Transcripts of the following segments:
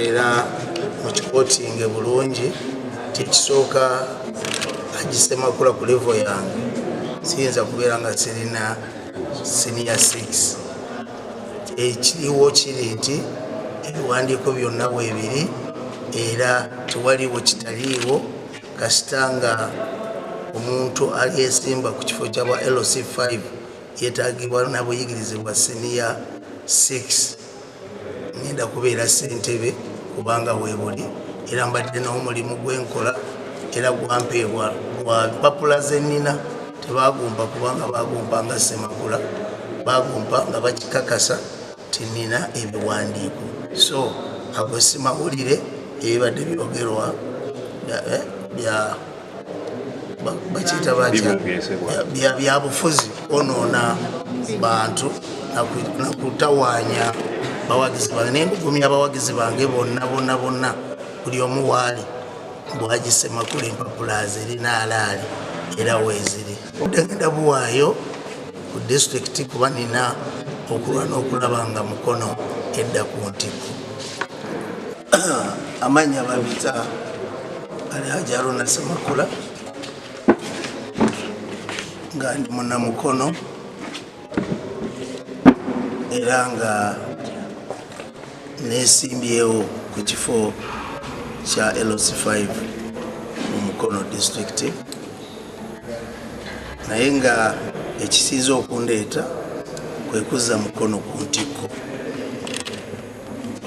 era mukikotinge bulungi kyekisooka agisemakula ku levo yange siyinza kubeera nga sirina siniya 6 ekiriwo kiri nti ebiwandiiko byonna bwebiri era tewaliwo kitaliiwo kasita nga omuntu alyesimba ku kifo kyabwa lc 5 yetagibwa nabuyigirize bwa siniya 6 ngenda kubeera sentebe kubanga webuli era mbadde n'omulimu gwenkola era gwampeebwa gwa mpapula zenina tebagumpa kubanga bagumpa nga semakula bagumpa nga bakikakasa tinina ebiwandiiko so ago simawulire ebibadde byogerwa eh, bakiyita byabufuzi onoona bantu nakutawaanya bawagizi bange naye ndugumya abawagizi bange bonna bonna bonna buli omu waali bwagisemakula empapula zirina alaali era weeziri Ndagenda buwaayo ku disitulikiti kuba nina okulwa n'okulaba nga mukono edda ku ntikko amanya babita ali hajaruna semakula nga ndi munamukono era nga Nesimbyewo ku kifo kya LC 5 mu Mukono disitulikiti naye nga ekisinze okundeeta kwe kuzza Mukono ku ntikko.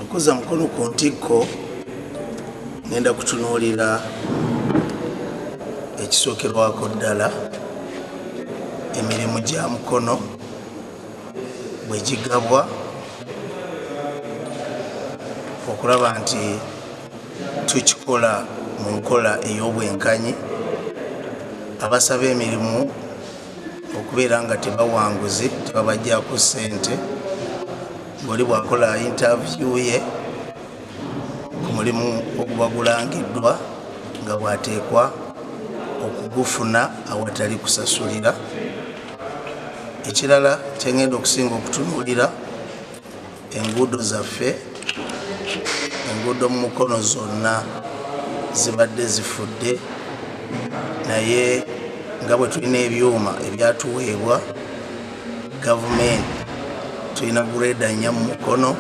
Okuzza Mukono ku ntikko ngenda kutunuulira ekisookerwako ddala emirimu gya Mukono bwe gigabwa okulaba nti tukikola mu nkola ey'obwenkanyi abasaba emirimu okubeera nga tebawanguzi tebabajjaku ssente ngoli bwakola intavyu ye ku mulimu ogubagulangiddwa nga bwateekwa okugufuna awatali kusasulira ekirala kyengenda okusinga okutunuulira enguudo zaffe enguudo mu mukono zonna zibadde zifudde naye nga bwe tulina ebyuma ebyatuweebwa gavumenti tulina gureeda nnya mu mukono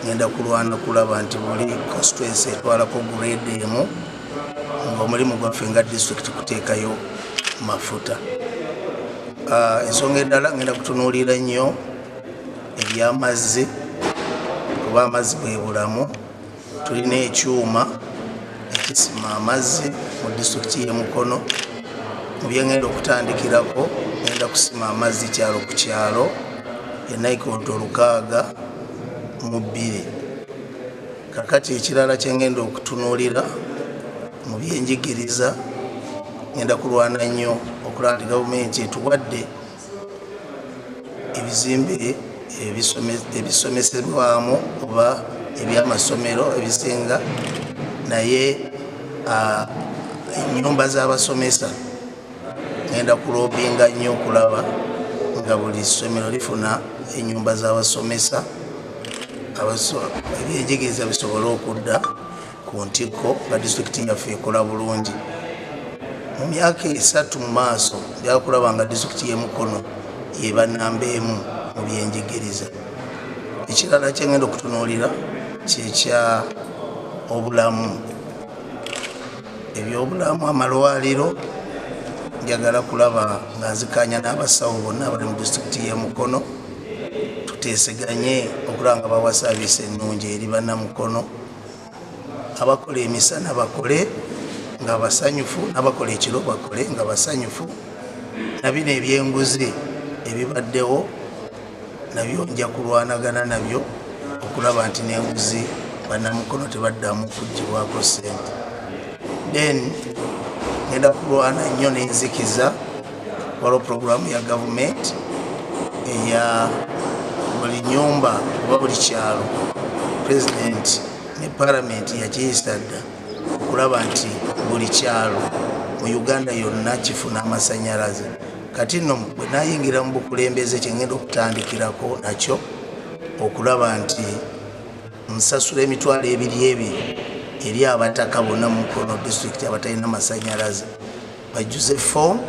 ngenda kulwana kulaba nti buli constituensi etwalako gureeda emu ngaomulimu gwaffe nga district kuteekayo mafuta ah, ensonga eddala ngenda kutunuulira nnyo ebyamazzi kuba amazzi bwebulamu tulina ekyuma ekisima amazzi mu district yemukono mubyengenda okutandikirako ngenda kusima amazzi kyalo ku kyalo enaikondo lukaaga mu bbiri kakati ekirala kyengenda okutunuulira mu byenjigiriza ngenda kulwana nnyo okulaba nti gavumenti etuwadde ebizimbe ebisomesebwamu oba ebyamasomero ebisinga naye enyumba z'abasomesa ngenda kulobinga nnyo okulaba nga buli ssomero lifuna enyumba z'abasomesa ebyenjigiriza bisobole okudda ku ntikko nga disitulikiti yaffe ekola bulungi mu myaka esatu mu maaso byakulaba nga disitulikiti y'emukono eba namba emu mu byenjigiriza ekirala kyengenda okutunuulira kyekya obulamu ebyobulamu amalwaliro njagala kulaba nga nzikanya n'abasawo bonna abali mu disitulikiti y'e mukono tuteeseganye okulaba nga bawa saaviisi ennungi eri bannamukono abakola emisana bakole nga basanyufu nabakola ekiro bakole nga basanyufu nabino ebyenguzi ebibaddewo nabyo nja kulwanagana nabyo okulaba nti nenguzi banamukono tebaddamu kugibwako sente then ngenda kulwana nnyo nenzikiza waliwo puroguramu ya gavumenti eya buli nyumba oba buli kyalo pulezidenti ne palamenti yakiyisa dda okulaba nti buli kyalo mu uganda yonna kifuna amasanyalaze kati nno bwe nayingira mu bukulembeze kyengenda okutandikirako nakyo okulaba nti nsasula emitwalo ebiri ebiri eri abataka bonna mu mukono disitulikiti abatalina masanyalaze bajjuze foomu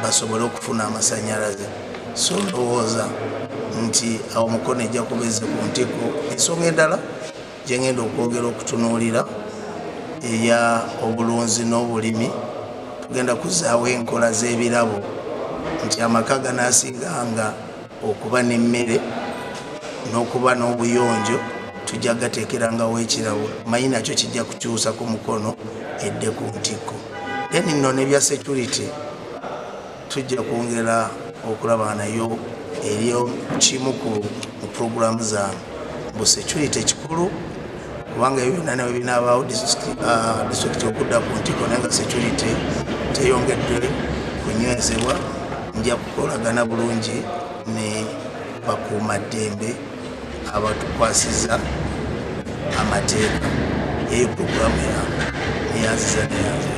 basobole okufuna amasanyalaze so ndowooza nti awo mukono ejja kubeze ku ntiko ensonga endala gyengenda okwongera okutunuulira eya obulunzi n'obulimi tugenda kuzaawo enkola z'ebirabo nti amaka ganasiganga okuba n'emmere n'okuba n'obuyonjo tujja gateekerangawo ekirabo manyi nakyo kijja kukyusa ku mukono edde ku ntikko then nno nebya security tujja kwongera okulaba nayo eryo kimu ku puroguramu za bu security ekikulu kubanga ebyo byonna nabyo binaabaawo disitulikiti uh, okudda ku ntiko naye nga security teyongedde kunywezebwa nja kukolagana bulungi ne bakuuma ddembe abatukwasiza amateeka eyo puroguramu yange eyanziza neyanzira